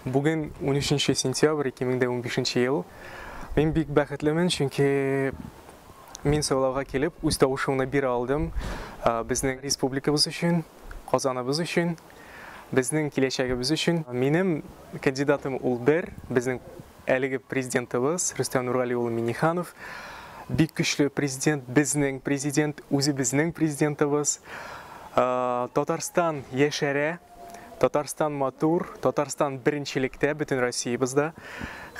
Бүген 13 сентябрь 2015 ел. Мин бик бәхетлемен, чөнки мин сайлауга килеп, үз тавышымны бирә алдым. Безнең республикабыз өчен, Казаныбыз өчен, безнең киләчәгебез өчен. Минем кандидатым ул бер, безнең Әлеге Президентыбыз Рөстәм Нургали улы Миңнеханов бик көчле Президент, безнең Президент, үзебезнең Президентыбыз. Татарстан яшәрә, Татарстан матур, Татарстан беренчелектә бөтен Россиябызда.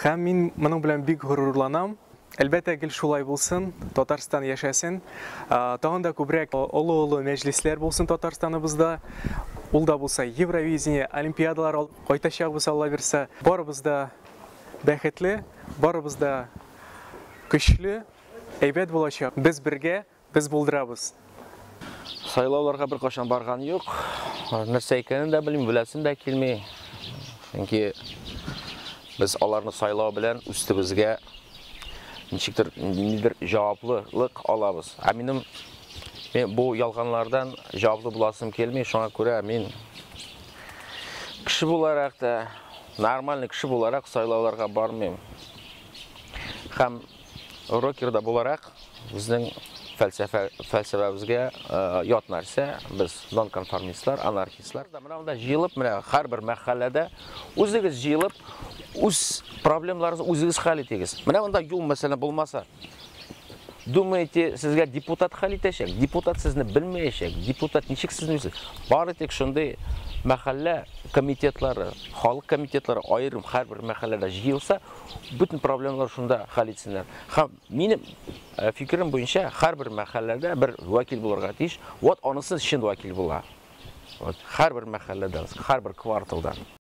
Һәм мин моның белән бик горурланам. Әлбәттә гел шулай булсын, Татарстан яшәсен, тагын да күбрәк олы-олы мәҗлесләр булсын Татарстаныбызда, ул да булса Евровидение, Олимпиадалар кайтачакбыз Алла бирса, барыбыз да бәхетле, барыбыз да көчле, әйбәт булачак, без бергә. Без булдырабыз. Сайлауларга беркайчан барган юк. Нәрсә икәнен дә белмим, беләсем дә килми. Чөнки без аларны сайлау белән үстебезгә ничектер ниндидер җаваплылык алабыз. Ә минем мен бу ялганлардан җаваплы буласым килми, шуңа күрә мин кеше буларак та, нормальный кеше буларак сайлауларга бармыйм. Һәм Рокерда буларак, безнең фәлсәфә, фәлсәфәбезгә ят нәрсә, без нонконформистлар, анархистлар. Менә монда җыелып, менә һәрбер мәхәлләдә үзегез җыелып, үз проблемаларыгызны үзегез хәл итегез. Менә монда юл мәсәлән булмаса, думаете, сезгә депутат хәл итәчәк? Депутат сезне белмәячәк. Депутат ничек сезне белсен? Бары тик шундый мәхәллә комитетлары, халык комитетлары аерым һәрбер мәхәлләдә җыелса, Бөтен проблемалар шунда хәл итсеннәр. Һәм минем э, фикерем буенча һәрбер мәхәлләдә бер вәкил булырга тиеш. Вот анысы чын вәкил була. Вот һәрбер мәхәлләдән, һәрбер кварталдан.